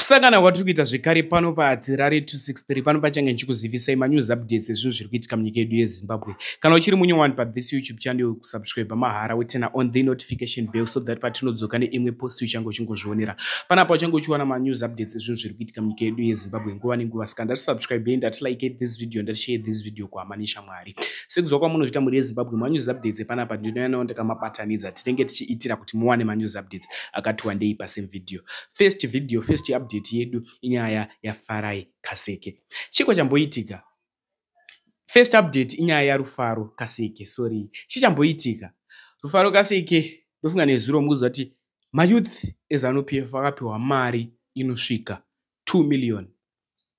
kusangana kwatiri kuita zvekare pano pahatirari 263 pano pachange ndichikuzivisai manews updates ezvinhu zviri kuitika munyika yedu yezimbabwe kana uchiri munye wani pathis youtube channel yokusubscribe mahara wetena on the notification bell so that patinodzoka neimwe post uchange uchingozvionera panapa uchange uchiwana manews updates ezvinhu zviri kuitika munyika yedu yezimbabwe nguva nenguva saka ndati subscribe yei ndati like this video ndati share this video kuhama neshamwari sekuziva kwamunozvita mhuri yezimbabwe manews updates epanapa ndinoyanawo ndakamabatanidza tinenge tichiitira kuti muwane manews updates akati wandei pasame video first video first update yedu inyaya yafarai kaseke chiko chamboitika first update inyaya yarufaro kaseke sorry chichamboitika rufaro kaseke ndofunga nezuro mukuziva kuti mayouth ezanupf akapiwa mari inosvika 2 million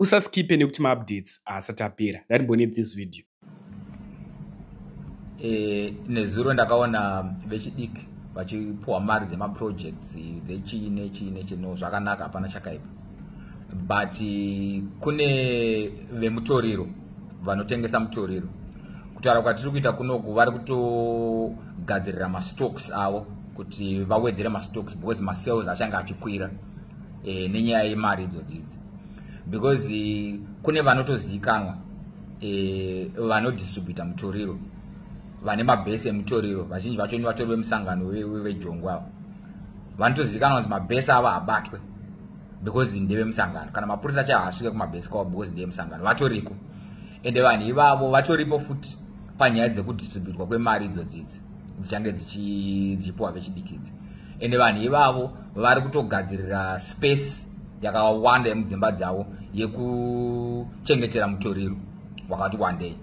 usaskipe nekuti maupdates haasati apera ndatimbone this video e, nezuro ndakaona vechidiki vachipuwa mari dzemaprojects dzechii nechii nechii no zvakanaka hapana chakaipa but kune vemutoriro vanotengesa mutoriro kutaura kwatiri kuita kunoku vari kutogadzirira mastocks avo kuti vawedzere mastocks because masales achange achikwira e, nenyaya yemari idzodzidzi because eh, kune vanotozivikanwa e, vanodistributa mutoriro vane mabhesi emutoriro vazhinji vacho ni vatori vemusangano vejongo avo vanotozivikanwa kunzi mabhesi avo habatwe because ndevemusangano kana mapurisa chaivo asvike kumabhesi kwavo because ndevemusangano vatoriko ende vanhu ivavo vatoripo futi panyaya dzekudistributwa kwemari idzodzidzi dzichange dzichipuwa vechidikidzi ende vanhu ivavo vari kutogadzirira space yakawanda yemudzimba dzavo yekuchengetera mutoriro wakati wandei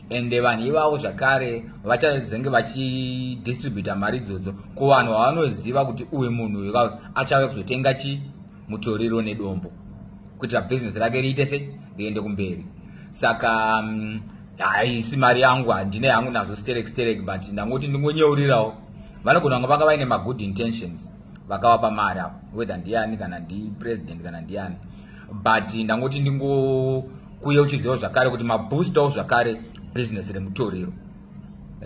ende vanhu ivavo zvakare vachazenge vachidistributa mari idzodzo kuvanhu vavanoziva kuti uyu munhu uyu achave kuzotenga chi mutoriro nedombo kuitira bhizinesi rake riite sei riende kumberi saka mm, haisi mari yangu handine yangu nazvo sterek sterek but ndangoti ndingonyeurirawo vanogona vanga vanga vaine magood intentions vakavapa mari apo whether ndiani kana ndipresident kana ndiani but ndangoti ndingokuye uchiziva zvakare kuti maboostawo zvakare business remutoriro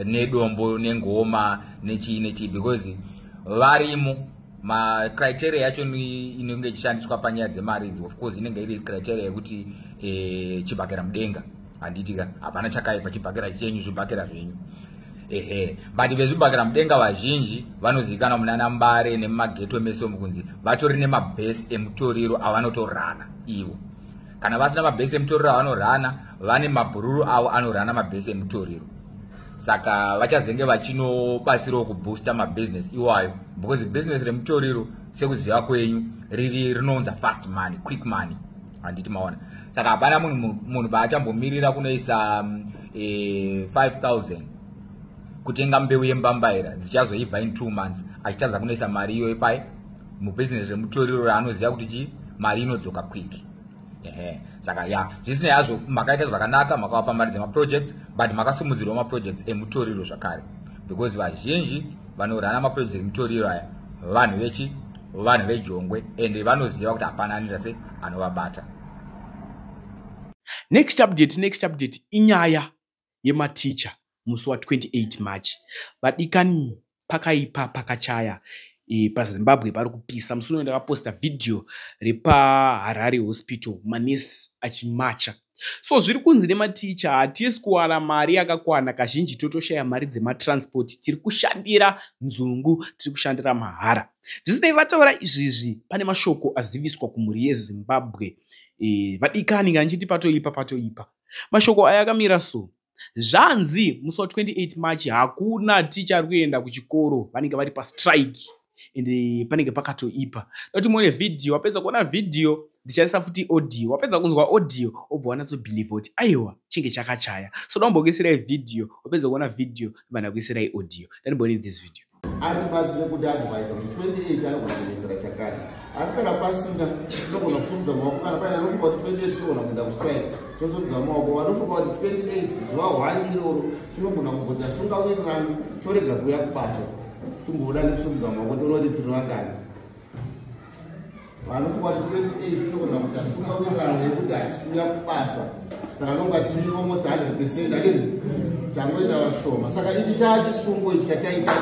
nedombo nengoma nechii nechii because varimo macriteria yacho inenge ichishandiswa panyaya dzemari idzi of course inenge iri criteria yekuti e, chibhakera mudenga handiti ka hapana chakaipa chibhakera chenyu zvibhakera zvenyu ehe but vezvibhakera mudenga vazhinji vanozivikanwa munana mbare nemumageto mese mukunzi vatori nemabhesi emutoriro avanotorana ivo kana vasina mabhesi emutoriro avanorana vane mabhururu avo anorana mabhesi emutoriro saka vachazenge vachinobatsirawo kuboosta mabhizinesi iwayo because bhizinesi remutoriro sekuziva kwenyu riri rinounza fast money quick money handiti maona saka hapana munhu munhu paachambomirira kunoisa um, e, 5000 kutenga mbeu yembambaira dzichazoibva in two months achitadza kunoisa mari iyoyo pai mubhizinesi remutoriro raanoziva kuti chii mari inodzoka quick ehe saka ya zvisinei hazvo makaita zvakanaka makavapa mari dzemaprojects but makasimudzirwa maprojects emutoriro zvakare because vazhinji vanorana maprojects emutoriro aya vanhu vechi vanhu vejongwe and vanoziva kuti hapana anoita se anovabata next update next update inyaya yematicha musi wa 28 march vadikani pakaipa pakachaya e, pazimbabwe pari kupisa musi uno ndakaposta vhidhiyo repaharare hospital manesi achimacha So zviri kunzi nematicha hatisi kuwana mari yakakwana kazhinji totoshaya mari dzematransport tiri kushandira nzungu tiri kushandira mahara. Zvisinei vataura izvizvi pane mashoko aziviswa kumhuri yeZimbabwe e, vadikani kanjiti patoipa patoipa. Mashoko aya akamira so zvanzi musi wa 28 march hakuna ticha ari kuenda kuchikoro vanenge vari pastrike and panenge pakatoipa dati muone vhidhiyo wapedza kuona vhidhiyo ndichaisa futi audio wapedza kunzwa audio obva wanatsobhilivha kuti aiwa chinge chakachaya so daumbokuisirai vhidhiyo wapedza kuona vhidhiyo ndibva ndakuisirai audio dati muone this video atibatsire kuti advise kuti 28 anogona kuenzera chakati asi kana pasina tinogona kusumudza maoko kana paine anofunga kuti 28 tinogona kuenda kustrike tosumudza maoko vanofunga kuti 28 zuva one iroro tinogona kugoda sunga wirirano torega kuuya kubasa timboona nekusumudza maoko toona kuti tiri vangani vanofunga kuti tiri kutii tinogona kuti hatifunga kuenderana nekuti hatisi kuuya kubasa saka nonga tiri almost 100 percent akii tangoita vashoma saka ichi chaa chisungo ichi chataita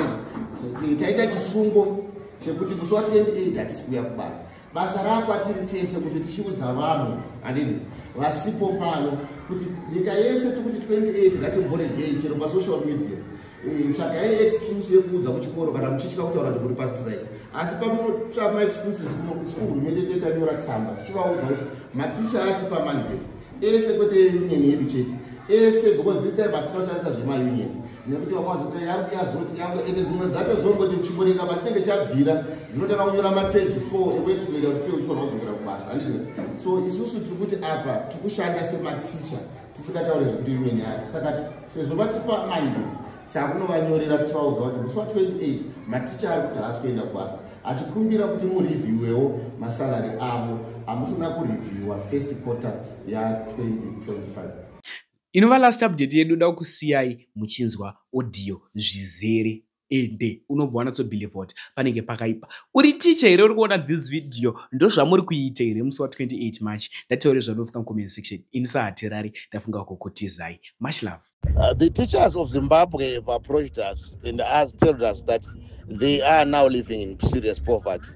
taita chisungo chekuti musi wa 28 hatisi kuuya kubasa basa rakwatiri tese kuti tichiudza vanhu andii vasipo pano kuti nyika yese tikuti 28 ngatimboregei chero pasocial media Eh, tsvagai excuse yekuudza kuchikoro kana muchitya kutaura kuti muri pastrike asi pamunotsva maexcuses kunokusiku hurumende tetanyora tsamba tichivaudza kuti maticha ati pamandate ese kwete union yedu chete ese because this time hatina kushandisa zvemaunion nekuti vakwazota yangu yazoti yangu ende dzimwe dzacho zongoti muchimboreka patinenge chabvira dzinotanga kunyora mapeji four ekuexplaina kuti sei uchifanira kudzokera kubasa handizvo so isusu tiri kuti apa tiri kushanda sematicha tisingataure zvekuti imwe nyaya saka sezvo vatipa mandate takunovanyorera tichivaudza kuti musi wa 28 maticha ari kuti haasi kuenda kubasa achikumbira kuti murevhiwewo masalary avo amusina kurevhiwa first quarter ya 2025 inova last update yedu da kusiyai muchinzwa audio zvizere ende unobva wanatsobhilivha kuti panenge pakaipa uri ticha here uri kuona this video ndozvamuri kuita here musi wa28 march ndataure zvanofika mucomment section ini sahatirari ndafunga kukutizai much love uh, the teachers of zimbabwe have approached us and us told us that they are now living in serious poverty